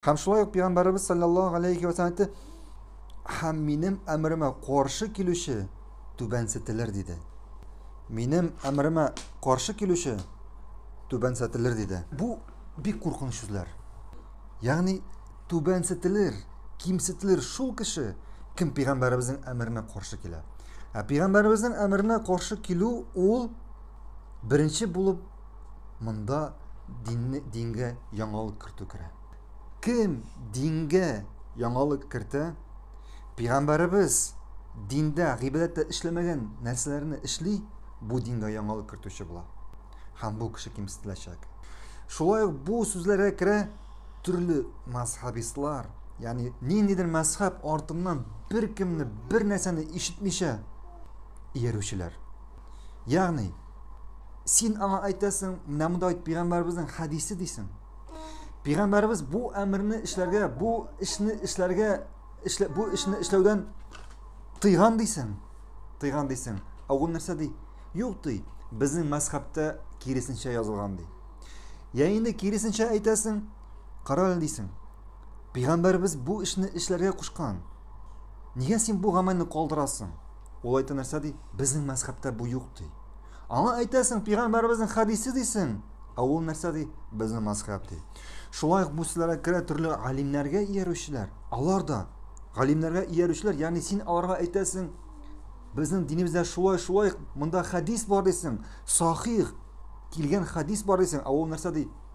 Һәм шулай ук Пәйгамбәребез саллаллаһу галәйһи ва сәлләм әйтте, Һәм минем әмеремә каршы килүче түбәнсетелер, диде. Минем әмеремә каршы килүче түбәнсетелер, диде. Бу бик куркыныч сүзләр. Ягъни түбәнсетелер, кимсетелер шул кеше, кем Пәйгамбәребезнең әмеренә каршы килә. Ә Пәйгамбәребезнең әмеренә каршы килү ул беренче булып Монда динне дингә яңалык кертү керә. Кем дингә яңалык кертә? Пигамбәребез диндә, гыйбадәттә эшләмәгән нәрсәләрне эшли, бу дингә яңалык кертүче була. Һәм бу кеше кимсетеләчәк. Шулай ук бу сүзләргә керә төрле мазһабистлар, ягъни ниндидер мазһаб артыннан беркемне, бер нәрсәне ишетмичә иярүчеләр. Ягъни, син аңа әйтәсең, менә монда бит пигамбәребезнең хәдисе дисең. Пигамбәребез бу әмерне эшләргә, бу эшне эшләргә, эшлә, бу эшне эшләүдән тыйган дисең. Тыйган дисең. Ә ул нәрсә ди? Юк ди. Безнең мәзхәбтә киресенчә язылган ди. Я инде киресенчә әйтәсең, карале дисең. Пигамбәребез бу эшне эшләргә кушкан. Нигә син бу гамәлне калдырасың? Ул әйтә нәрсә ди? Безнең мәзхәбтә бу юк ди. Аңа әйтәсең, пигамбәребезнең хәдисе дисең. Ә ул нәрсә ди? Безнең мәзхәб ди. Шулай ук бу сүзләргә керә төрле галимнәргә иярүчеләр. Алар да галимнәргә иярүчеләр, ягъни син аларга әйтәсең, безнең динебездә шулай, шулай, монда хәдис бар дисең, сахих килгән хәдис бар дисең, ә ул нәрсә ди?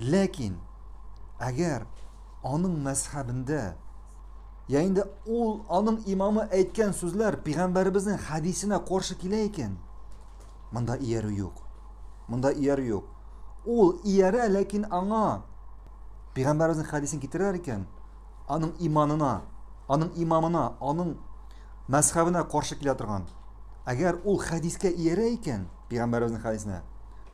Ләкин әгәр аның мәзхәбендә я инде ул аның имамы әйткән сүзләр пигамбәребезнең хәдисенә каршы килә икән, монда иярү юк. Монда иярү юк. Ул иярә, ләкин аңа пигамбәребезнең хәдисен китерер икән, аның иманына, аның имамына, аның мәзхәбенә каршы килә торган. Әгәр ул хәдискә иярә икән, пигамбәребезнең хәдисенә,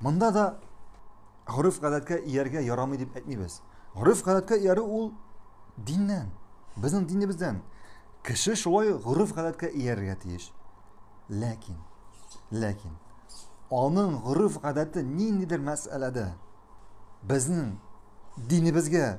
Монда да гореф гадәткә ияргә ярамый дип әйтмибез. Гореф гадәткә иярү ул диннән, безнең динебездән. Кеше шулай гореф гадәткә иярергә тиеш. Ләкин, ләкин аның гореф гадәте ниндидер мәсьәләдә безнең динебезгә